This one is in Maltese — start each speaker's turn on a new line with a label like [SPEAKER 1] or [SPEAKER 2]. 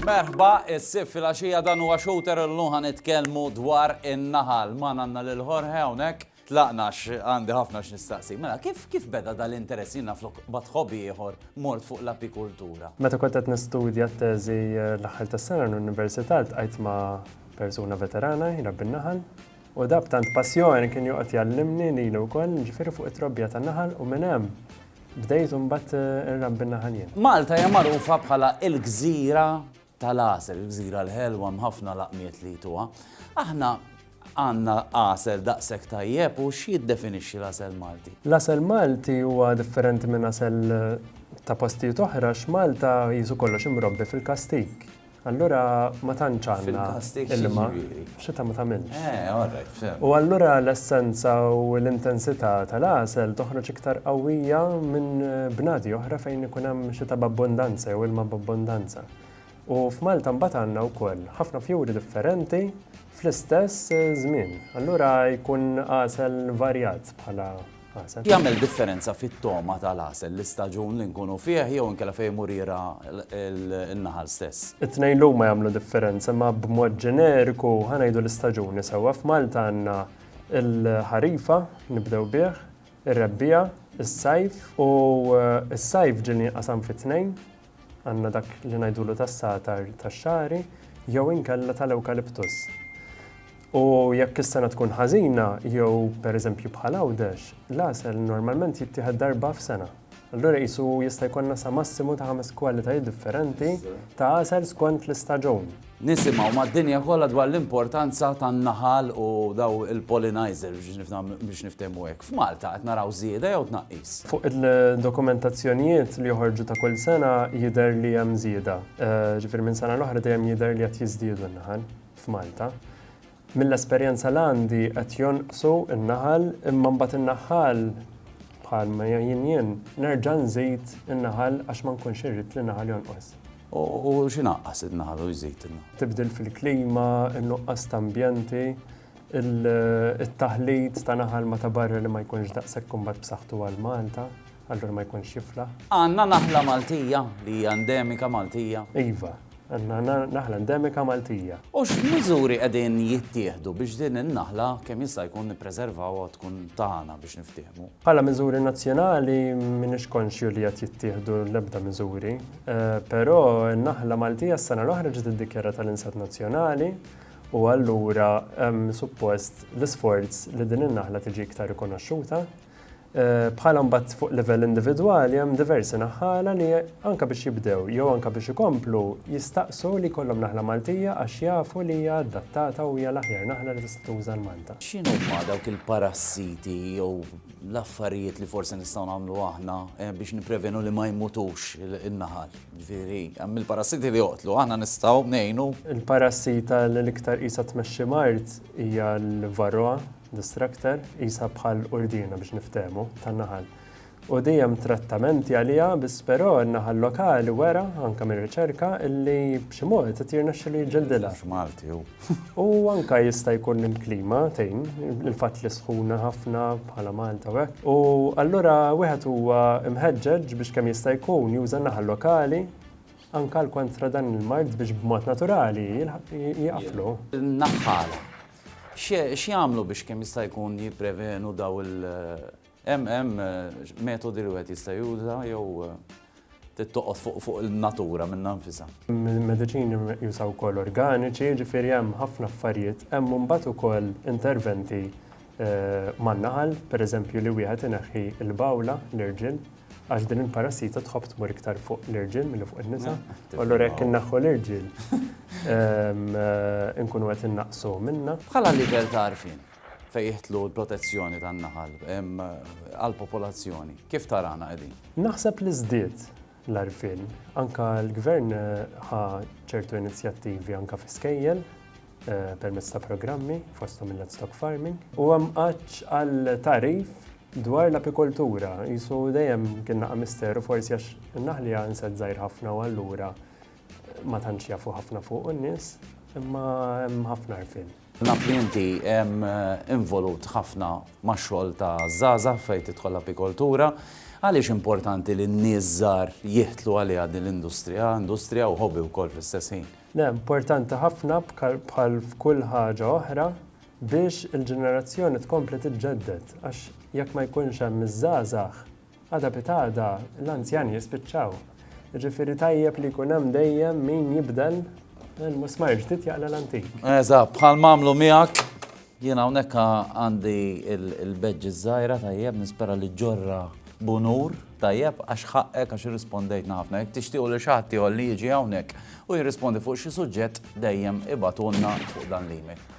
[SPEAKER 1] Merħba, is-sib fil-għaxija dan huwa xouter illum ħa nitkellmu dwar in-naħal. Magħna għandna lil Jorge hawnhekk. Tlaqna għax għandi ħafna x'nistaqsik. Mela, kif kif beda dal-interess? Jien naf flok bagħadt ħobi ieħor mort fuq l-apikultura. Meta kont qed nistudja
[SPEAKER 2] t-teżi l-aħħar tas-sena l-università ltqajt ma' persuna veterana jrabbi n-naħal u da b'tant passjoni kien joqgħod jgħallimni lili wkoll, jiġifieri fuq it-trobbija tan-naħal u minn hemm bdejt imbagħad inrabbi n-naħal jien. Malta hija magħrufa
[SPEAKER 1] bħala il-gżira tal-għasel, il-gżira l-ħelwa hemm ħafna laqmiet li jtuha. Aħna għandna għasel daqshekk tajjeb u x'jiddefinixxi l-għasel Malti? L-għasel Malti
[SPEAKER 2] huwa differenti minn għasel ta' postijiet oħra x'Malta jisu kollox imrobbi fil-kastik. Allura ma tantx għandna ilma. X'età ma tagħmilx. Eh, all right, fhimt. U
[SPEAKER 1] allura l-essenza
[SPEAKER 2] u l-intensità tal-għasel toħroġ iktar qawwija minn bnadi oħra fejn ikun hemm xita b'abbundanza jew ilma b'abbundanza. U f'Malta mbagħad għandna wkoll ħafna fjuri differenti fl-istess żmien. Allura jkun għasel varjat bħala Jagħmel differenza
[SPEAKER 1] fit-togħma tal-għasel, l-istaġun li nkunu fih jew inkella fejn imur jirgħa n-naħal stess? It-tnejn huma jagħmlu
[SPEAKER 2] differenza imma b'mod ġeneriku ħa ngħidu l-istaġuni sewwa. F'Malta għandna l-ħarifa, nibdew bih, ir-rebbiegħa, is-sajf u s-sajf ġieli jinqasam fi tnejn, Għandna dak li ngħidulu tas-satar tax-xagħri jew inkella tal-ewkaliptus. U jekk is-sena tkun ħażina jew pereżempju bħal Għawdex, l-għasel normalment jittieħed darba f'sena. Allura qisu jista' jkollna sa massimu ta' ħames kwalitajiet differenti ta' għasel skont l-istaġun. Nisimgħu mad-dinja
[SPEAKER 1] kollha dwar l-importanza tan-naħal u dawn il-pollinizers biex niftehmu hekk. F'Malta qed naraw żieda jew tnaqqis? Fuq
[SPEAKER 2] il-dokumentazzjonijiet li joħorġu ta' kull sena jidher li hemm żieda. Ġifieri minn sena l-oħra dejjem jidher li qed jiżdiedu n-naħal f'Malta. Mill-esperjenza l-għandi qed jonqsu n-naħal imma mbagħad in-naħħal bħal ma jien jien nerġa' nżid in-naħal għax ma nkunx irrid li n-naħal jonqos. U
[SPEAKER 1] x'inaqqas in-naħal u jżid in-naħal? Tibdil fil-klima,
[SPEAKER 2] in-nuqqas ta' ambjenti, it-taħlit ta' naħal ma' ta' barra li ma jkunx daqshekk imbagħad b'saħħtu għal Malta. allura ma jkunx jiflaħ. Għandna naħla
[SPEAKER 1] Maltija li hija endemika Maltija? Iva, għandna
[SPEAKER 2] naħla endemika Maltija. U x'miżuri
[SPEAKER 1] qegħdin jittieħdu biex din in-naħla kemm jista' jkun nippreservawha tkun tagħna biex niftiehmu? Bħala miżuri
[SPEAKER 2] nazzjonali m'iniex konxju li qed jittieħdu l-ebda miżuri, però n-naħla Maltija s-sena l-oħra ġiet iddikjarata l-insett nazzjonali u allura hemm suppost l-isforz li din in-naħla tiġi iktar rikonoxxuta. Bħala mbagħad fuq livell individwali hemm diversi naħħala li anke biex jibdew jew anke biex ikomplu jistaqsu li jkollhom naħla Maltija għax jafu li hija adattata u hija l-aħjar naħla li tista' tuża l-Malta. X'inhuma dawk
[SPEAKER 1] il-parassiti jew l-affarijiet li forsi nistgħu nagħmlu aħna biex nipprevenu li ma jmutux in-naħal? Ġifieri, hemm il-parassiti li joqtlu, aħna nistgħu ngħinu? Il-parassita
[SPEAKER 2] li l-iktar qisha tmexxi mard hija l-varroa, Distractor, qisha bħal qurdina biex niftehmu, tan-naħal. U di hemm trattamenti għaliha biss però n-naħal lokali wera, anke mir-riċerka, illi b'xi mod qed jirnexxilu jiġġildilha. Mhux Malti hu.
[SPEAKER 1] U anke
[SPEAKER 2] jista' jkun li l-klima tgħin, il-fatt li sħuna ħafna bħala Malta u hekk. U allura wieħed huwa mħeġġeġ biex kemm jista' jkun juża n-naħal lokali anke għal kontra dan il-mard biex b'mod naturali jieqaflu. Naħal.
[SPEAKER 1] X'jagħmlu biex kemm jista' jkun jipprevenu dawn il hemm hemm metodi li wieħed jista' juża jew trid toqgħod fuq fuq in-natura minnha nfisha? Mediċini
[SPEAKER 2] meqjusa wkoll organiċi, jiġifieri hemm ħafna affarijiet. Hemm mbagħad ukoll interventi man-naħal, pereżempju li wieħed ineħħi l-bawla, l-irġiel. Għax din il-parassita tħobb tmur iktar fuq l-irġiel milli fuq in-nisa. U allura jekk innaħħu l-irġiel, ehm, inkunu qed innaqsu minna. Bħala livell ta' għarfien
[SPEAKER 1] fejn jihtlu l-protezzjoni tan-naħal ehm, għall-popolazzjoni, kif tarana qegħdin? Naħseb li żdied
[SPEAKER 2] l-arfin. Anka l-gvern eh, ħa ċertu inizjattivi anka fi skejjel eh, permezz ta' programmi fosthom il-livestock farming u hemm għal tarif Dwar l-apikoltura, qisu dejjem kien naqa' misteru forsi għax in-naħli hija insett żgħir ħafna u allura ma tantx jafu ħafna fuqu n-nies, imma hemm ħafna għarfien. Naf li inti
[SPEAKER 1] involut ħafna max-xogħol ta' żgħażagħ fejn tidħol l-apikoltura. Għaliex importanti li n-nies żgħar jidħlu għaliha din l-industrija, industrija u hobby wkoll fl-istess ħin? Le, importanti
[SPEAKER 2] ħafna bħal f'kull ħaġa oħra, biex il-ġenerazzjoni tkompli tiġġedded għax jekk ma jkunx hemm iż-żgħażagħ, għada pitgħada l-anzjani jispiċċaw. Jiġifieri tajjeb li jkun hemm dejjem min jibdel il-musmajr ġdid jaqla l-antik. Eżatt, bħal mamlu
[SPEAKER 1] miegħek jien hawnhekk għandi il-beġġi żgħira tajjeb nispera li ġorra bunur tajjeb għax ħaqqek għax irrispondejt ħafna. Jek tixtiequ li xaħti li jiġi hawnhekk u jirrispondi fuq xi suġġett dejjem ibatulna fuq dan l-email.